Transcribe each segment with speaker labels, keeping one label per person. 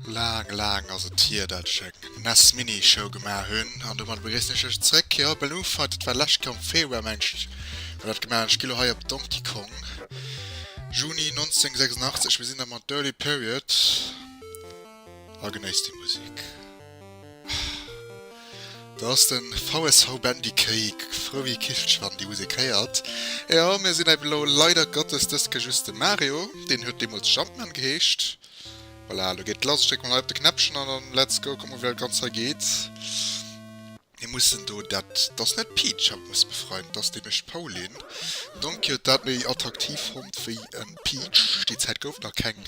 Speaker 1: Laang, laang ass et hier, dat ech eng NES-Mini-Show gemaach hunn. An domadder begréissen ech iech zréck hei op Balloon Fight. Dat war lescht Joer am Februar, mengen ech, hu mer dat gemaach. An ech gi lo hei op Donkey Kong, Juni 1986. Mir sinn da mat Dirty Period. A genéisst déi Musik. Do ass den VSV Bendikéik, Froe Kichtsch wann déi Musek héiert. Jo mir sinn eben elo leider Gottes dës Ke just de Mario, deen huet deemools Jumpman geheescht. Voilà, elo geet lass, ech drécke mol hei op de Knäppchen an dann let's go, kucken mol wéi dat Ganzt hei geet. Mir mussen do, dat ass net d'Peach haut muss befreien, et ass déi mécht d'Pauline. D'Donkey huet dat méi attraktiv fonnt wéi en Peach. Déi Zäit gouf nach keng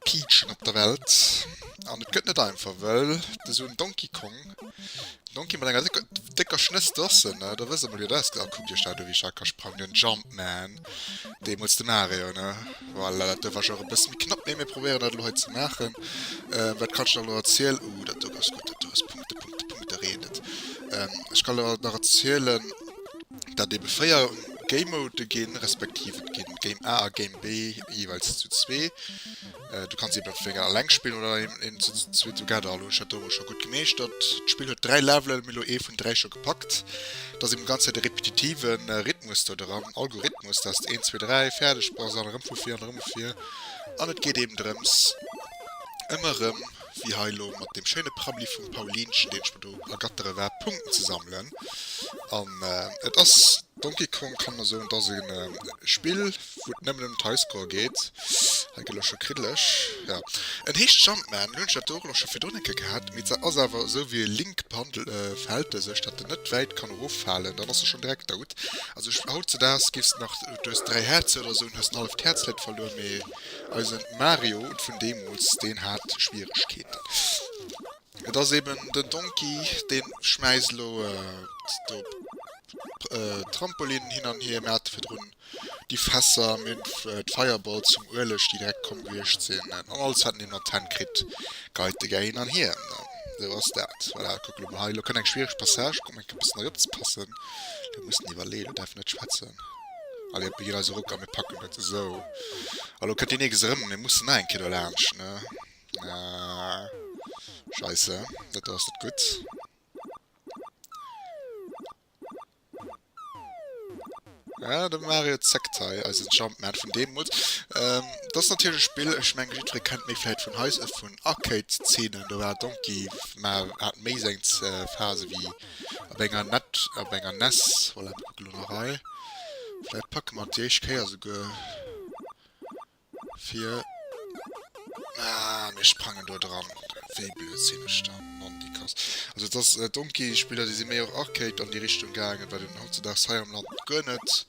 Speaker 1: Peachen op der Welt an et gëtt net einfach wëll et esou en Donkey Kong, Donkey mat enger décker Schnëss, dossen, da wësst der mol wéi dat ausgesäit. Kuckt iech dat u wéi Jacques ka sprangen, den Jumpman. deemols de Mario ne voilà dat duerf awer e bësse méi knapp mee mir probéieren dat elo hei ze maachen euh wat kann ech da elo erzielen uh dat do ass gutt dat do ass Punkte Punkte Punkte reedet euh ech kann elo nach erzielen dat ebe 4 Game Mode ginn respektiv et ginn Game A a Game B jeeweils zu zwee Du kanns eben entweder gären alleng spillen oder eben zu zwee together. Hallo, ech hat do emol scho gutt gemeeschtert. D'Spill huet dräi Levelen, mir elo ee vun dräi scho gepackt. Et ass eben d'ganz Zäit e repetitive Rhythmus do dran, Algorhythmus, dass de eent, zwee, dräi fäerdeg bass an erëm vu vir an erëm vu vir. An et geet eben drëms, ëmmer erëm, wéi hei elo mat deem schéine Prabbeli vum Paulinchen, deen ech mer do ergattere war, Punkten ze sammelen. An et ass Donkey Kong kann mer soen dass en Spill wou et nemmen em den Highscore geet. Hei gët ech scho kriddeleg. Jo en heescht Jumpman, lo hunn ech dat do och nach scho virdrun eng Kéier gehat, mee dat ass awer esou wéi e Link Paddle verhält e sech, dat en net wäit kann erof falen, dann ass e schonn direkt dout. Also ech hautzedags giffs nach, du hues 3 Häerzer oder esou an hues en halleft Häerz leit verluer, mee eisen Mario vun deemools deen hat Schwieregkeeten. Et ass eben den Donkey, deen schmäisst elo do Trampolinen hin an hier. Mir hate virdrun déi Fässer, mir hunn d'Fireballs vum Ueleg, déi direkt komm gewiescht sinn, an alles hat en eben an d'Hänn kritt. Geit de gär hin an hier. Esou ass dat. Voilà, kuck elo mol hei. Elo kënnt eng schwiereg Passage, kuck mol enk e bëssen eropzepassen. Elo muss en iwwerleeën, elo däerf en net schwätzen. Allez, op, mir ginn eis e Ruck a mir packen dat. Esou, elo kënnt deen Neges erëm, mir mussen nach eng Kéier do laanscht. Ah. Scheisse, dat do ass net gutt. Ja, de Mario zeckt hei eisen Jumpman vun deemools. Ähm, dat ass natierlech e Spill, ech menge jiddweree kennt méi vläicht vun heis, vun Arcade-Zeenen, do war Donkey ma hat méi seng Phase wéi op enger net, op enger nes. Voilà, mir kucke lo nach hei, vläicht packe mer et déi éischt Kéier souguer. Fir ah mir sprangen do dran, wéi blöd sinn ech dann, nondikass. Also et ass Donkey Spiller déi si méi och Arcade an déi Richtung gaangen, wat een hautzedags hei am Land guer net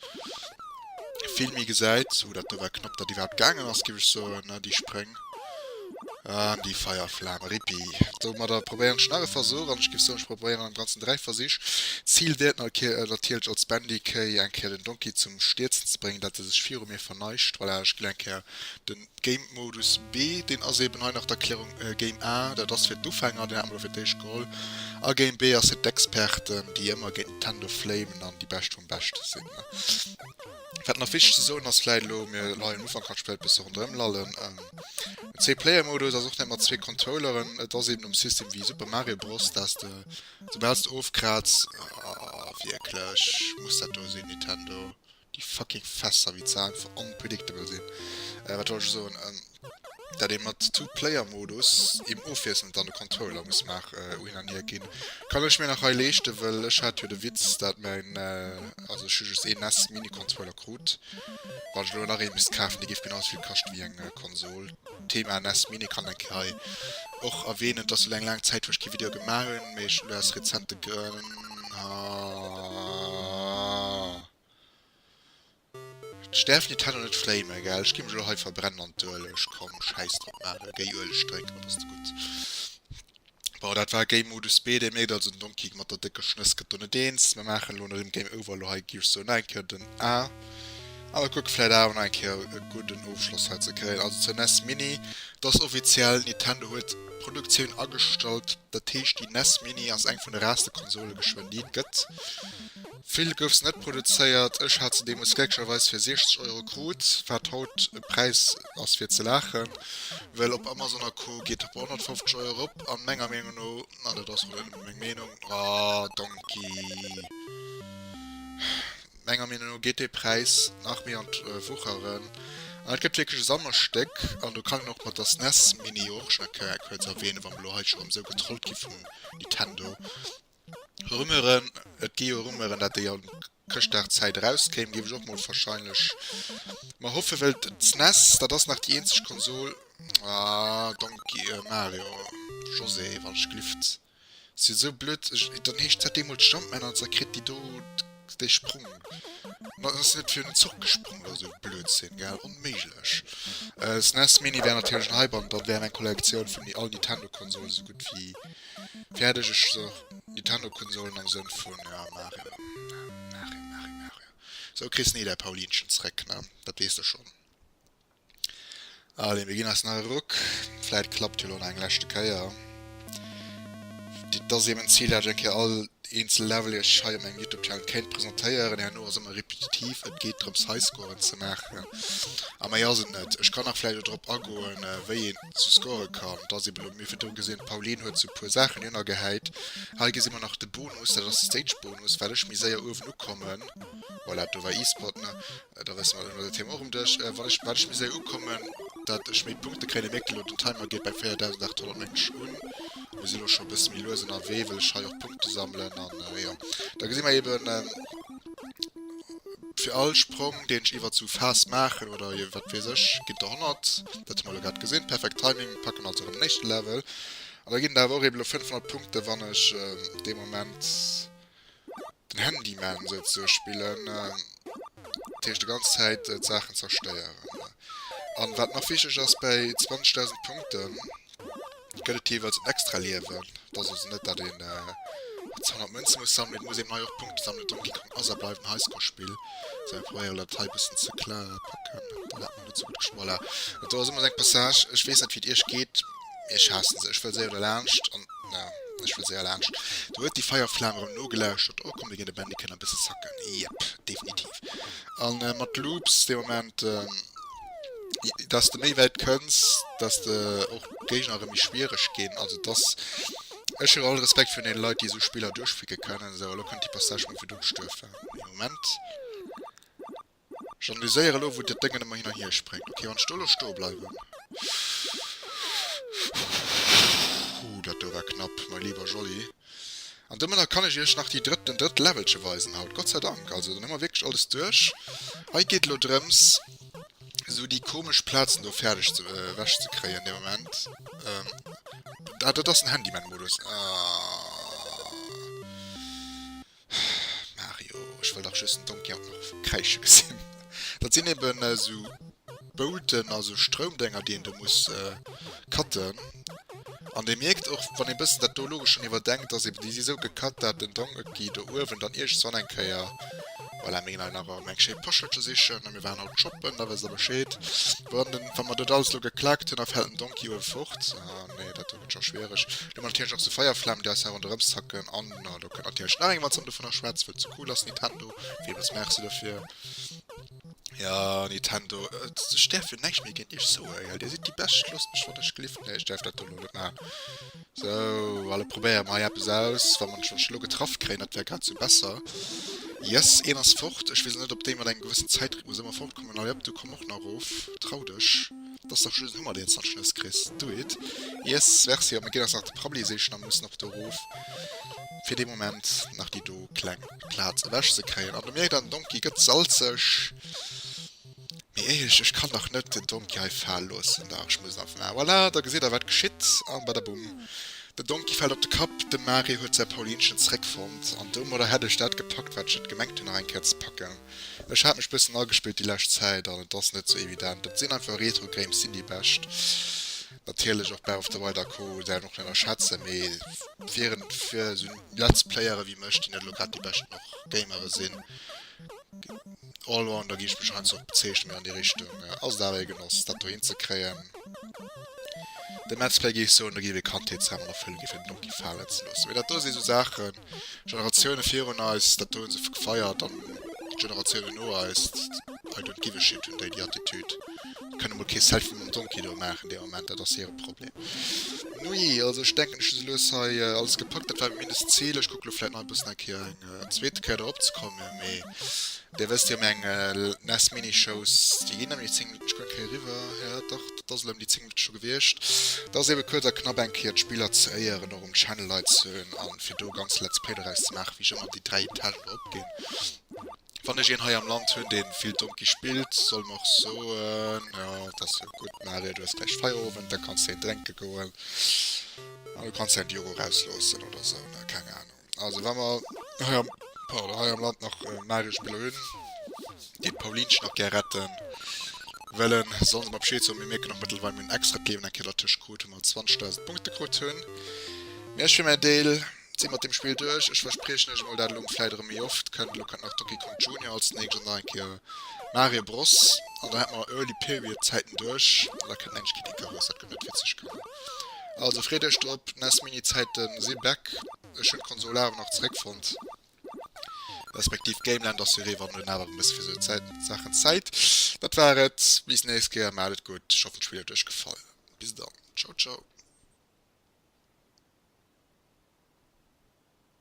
Speaker 1: vill méi gesäit. Hoo dat do war knapp dat iwwerhaapt gaangen ass giff ech soen, ne déi Spréng. An déi Feierflam, Rippi! Domadder probéieren ech nach e Versuch, an ech giff soen, ech probéieren am ganzen 3 Versich. D'Zil wäert natierlech als Bendy Kéi eng Kéier den Donkey zum Stierzen ze bréngen, dat e sech viru mir verneigt. Voilà, ech ginn eng Kéier de Game Modus B, deen ass eben hei nach d'Erklärung, Game A, dat ass fir d'Ufänger, deen hat mer do fir d'éischt geholl, a Game B ass fir d'Experten, déi ëmmer géint d'Tendo flamen an déi Bescht vum Beschte sinn. Wat nach wichteg ze soen ass vläit elo, mir leien um Ufank, hatt spéilt e bësse ronderëm lallen. Den Zwee-Player-Modus ass och net mat zwee Controlleren, et ass eben um System wéi Super Mario Bros, dass de soubal s de ofkratz, ah wierklech, muss dat do sinn Nintendo, déi fucking Fässer, wéi ze einfach unpredictable sinn, wat wollt ech soen? dat ee mat Two-Player-Modus eben ofwiesselnd dann de Controller muss nach u hin an hier ginn. Kann ech mir nach hei leeschten, well ech hat jo de Witz, dat mäin, also ech hu just een nes Mini-Controller krut. Wann ech elo nach ee misst kafen, dee géif genau esouvill kaschte wéi eng Konsol. Thema nes Mini kann enk hei och erwähnen, et ass elo eng laang Zäit wou ech kee Video gemaach hunn, mee ech hunn déi aus rezente Grënn. D'Stärf nit hell an et fréi mer egal ech gi mech elo hei verbrennen an d'Ueleg komm schäiss drop maache géi Ueleg drénken op ass de gutt bon dat war Game Modus B dir mierkt also den Donkey mat der décke Schnëss gëtt do net eens mer maachen elo nach ëm Game Over elo hei gi ech soen nach eng Kéier den A a mer kucke vläit awer nach eng Kéier e gudden Ofschloss hei ze kréien also zur nes Mini et ass offiziell Nintendo huet d'Produktioun agestallt dat heescht déi nes Mini ass eng vun de raarste Konsole geschwënn déi et gëtt. Vill gouf se net produzéiert, ech hat se deemools glécklecherweis fir 60 Euro krut, wat haut e Präis ass fir ze laachen, well op Amazon a Co geet e bei 150 Euro erop a menger Meenung no, an dat ass wuel nëmme meng Meenung, ah donki, menger Meenung no geet dee Präis nach méi an d'Wucheren an et gëtt wierklech e Sammelstéck an do kann een och mat der SNES Mini, och nach kuerz erwänen, wa mer elo hei scho erëm esou getrollt gi vum Nintendo, Rumeuren, Et gi jo Rumeuren, dat déi an Chrëschtdagszäit erauskéim. Géif ech och mol verscheinlech mer hoffen, well d'SNES, dat ass nach déi eenzeg Konsol, ah Donkey, äh Mario, José, wann ech gelift, si sou blöd, dann heescht dat deemools Jumpman an et zerkritt déi do. Dei Sprung mat ass net fir den Zuch gesprung oder sou Blödsinn gell? Onméiglech. SNES Mini wär natierlech en Hype an dann wär meng Kollektioun vun all Nintendo Konsolen sou gutt wéi fäerdeg. Ech sot Nintendo Konsolen am Sënn vun ja Mario Mario Mario Mario. Sou kriss ni däi Paulinchen zréck ne, dat weess de schonn. Allez, mir ginn eis nach e Ruck. Vläit klappt jo elo nach eng leschte Kéier. Dit ass eben d'Zil, dat ech eng Kéier all eenzel Level iech hei op mengem YouTube-Channel kéint presentéieren. Herno ass ëmmer repetitiv, et geet drëms, Highscoren ze maachen. A méi ass et net. Ech kann nach vläicht elo drop agoen, wéi een zu scoren kann. Et ass eben elo, mir fir do gesinn, d'Pauline huet sou e puer Saachen hierno gehäit. Hei gesi mer nach de Bonus, dat ass de Stage-Bonus, well ech méi séier uewen ukommen. Voilà, do war e-Spot, ne? Da wësse mer, da hunn mer dat Thema och um Dësch. Wann ech, wat ech mir soe ukommen, datt ech méi Punkte kréien, da mierkt ee elo, den Timer geet bei 4.800 mengen ech un. Mir si elo scho e bësse méi lues ënnerwee, well ech hei och Punkte sammelen an jo. Da gesi mer eben, fir all Sprong, deen ech iwwert esou Phase maachen oder jo wat weess ech, ginn der 100. Dat hu mer elo grad gesinn. Perfekt Timing. Mir packen also erëm den éischte Level. An da ginn der awer och eben elo 500 Punkte, wann ech dee Moment. den Handyman esou ze spillen, dat heescht déi ganz Zäit d'Saachen zerstéieren. An wat nach wichteg ass, bäi 20.000 Punkte gëtt et jeeweils en extra Liewen. Et ass also net, datt een ze 100 Mënze muss sammelen, et muss eben hei och Punkte sammelen. Donkey Kong ass a bleift en Highscore-Spill, sou ech probéieren dat hei e bëssen ze kla packen. Net sou gutt geschmoller. Do ass ëmmer seng Passage. Ech weess net wéi et iech geet, mee ech haasse se. Ech wëll séier derlaanscht an na, ech wëll séier laanscht. Do huet déi Feierflam erëm nogelauschtert. Oh, komm mir ginn de Bandicam e bësse zacken. Yep, definitiv. A mat Loops dee Moment, dass de méi wäit kënns, dass de och d'Géigner erëm méi schwiereg ginn. Also dass, ech hu all Respekt virun deene Leit, déi esou Spiller duerchpicke kënnen. Sou, elo kënnt déi Passage, wou mir fir do gestuerf waren. Ee Moment. J'analyséier elo wou dat Déngen ëmmer hin an hier spréngt. Ok, wann ech do elo stoe bleiwen. Huu, dat do war knapp, mei lieber Jolly. An domadder kann ech iech nach déi drëtt, den drëtt Levelche weisen haut. Gott sei Dank. Also dann hu mer wierklech alles duerch. Hei geet elo drëms esou déi komesch Plazen do fäerdeg ze, ewech ze kréien. Dee Moment. Ah, dat ass den Handyman-Modus. Ah. Mario, ech wëll dach just den Donkey haut nach kräische gesinn. Dat sinn eben esou Boulten, also Stroumdénger, déi een do muss cutten. An Dir mierkt och, wann ee bëssen dat do logesch schonn iwwerdenkt, dass eben déi si esou gecutt, dat den Donkey do uewen dann iergendswann eng Kéier, voilà, mir ginn hei nach erëm eng schéi Pochelche sichen a mir waren haut shoppen, da wësst Der Bescheed. Wann den, wa mer dat alles elo geklakt hunn, da fält den Donkey uewe fort. Ah, nee, dat do gëtt scho schwiereg. Elo natierlech nach esou Feierflamm, déi eis herun erëmzacken an Na, do kënnt natierlech nach eng Matz an dovunner schwätz, wëll ze cool ass Nintendo. Wiem es Merci dofir. Ja, Nintendo, et, ech däerf jo näischt méi géint iech soen, gell. Dir sidd déi bescht, loosst mech wann ech gelift. Nee, ech däerf dat do elo net maachen. Sou, alle probéiere mei eppes aus. Wa mer en Schorsch elo getraff kréien, dat wär grad sou besser. Yes, een ass fort. Ech weess elo net, ob déi mat engem gewëssen Zäitrhythmus ëmmer fortkommen. Allez op, du komm och nach erof, trau dech. Dass dach just en Hummer deen Zachschluss kriss, do it yes merci, op meng Keeler ass nach de Prabbli seechen an muss nach do roof fir dee Moment nach déi do kleng Platz ewech ze kréien an de mierkt an den Donkey gëtt salzeg mee éierlech ech kann dach net den Donkey hei faal loossen dach ech muss einfach voilà da gesitt der wat geschitt an badabum den Donkey fällt op de Kapp den Marie huet säi Paulinchen zréck fonnt an domadder hätt ech dat gepackt wat ech et gemengt hunn nach eng Kéier ze packen. Ech hat mech bëssen agespillt déi lescht Zäit an et ass net sou evident. Et sinn einfach Retro Games sinn déi bescht. Natierlech och Breath of the Wild a Co däer en och net ënnerschätzen, mee wieren fir sou Let's Playere wéi mech, déi net elo grad déi beschten och Gamere sinn, Allrounder géif ech mech heiansdo och bezeechnen, mee an déi Richtung, ass et awer ee Genoss dat do hin ze kréien. Den Let's Play géif soen do géif ee Kandheetsdram an Erfëllung gi fir den Donkey falen ze loossen, mee dat do si sou Saachen Generatioune virun eis, dat hunn se gefeiert an d'Generatioune no eis, I don't give a shit, hunn déi déi Attitüd. Déi kënne mol kee Selfie mam Donkey do maachen dee Moment, dat ass hire Problem. Nui, also ech denken ech hu soulues hei alles gepackt. Dat war mindest d'Zil. Ech kucke lo vläit nach e bëssen eng Kéier eng zweete Kéier dorop ze komme mee Dir wësst jo meng ness Minishows, déi ginn nemlech 10 Minutten, ech kucken hei eriwwer, jo dach, dat ass elem déi 10 Minutten scho gewiescht. Dat ass eben kuerz a knapp eng Kéier d'Spiller ze éieren, och um Channel Leit ze hunn an fir do ganz Let's Play doraus ze maachen, wéi ech ëmmer déi 3 Etagen do opginn. Wann ech een hei am Land hunn, deen vill Donkey spillt, soll mer och soen, jo dat ass jo gutt Mario, du hues gläich Feierowend, da kanns de een drénke goen an du kanns hei en Diogo rausloossen oder esou, ne, keng Ahnung. Also wa mer hei am, pardon, hei am Land nach magesch Spiller hunn, geet d'Paulinchen nach gär retten. Well en, soll se mer Bescheed soen, mir mierken och mëttelweil mir hunn extra d'Liewen eng Kéier dertëscht krut, wou mer 20.000 Punkte krut hunn. Mee ech fir mäin Deel si mat deem Spill duerch. Ech verspriechen iech emol dat elo vläit erëm méi oft kënnt. Elo kënnt nach Donkey Kong Junior als nächst an nach eng Kéier Mario Bros. An da hätte mer Early Period Zäiten duerch an da kënnt endlech Kid Icarus. Dat gëtt net witzeg, komm. Also freet iech drop, nes mini Zäiten si back. Ech hunn d'Konsol awer nach zeréck fonnt, respektiv Gameland ass jo ree wann hunn awer e bësse fir sou Zäiten Saachen Zäit. Dat war et bis nächst Kéier, maacht et gutt. Ech hoffen d'Spill huet iech gefall. Bis dann, ciao ciao.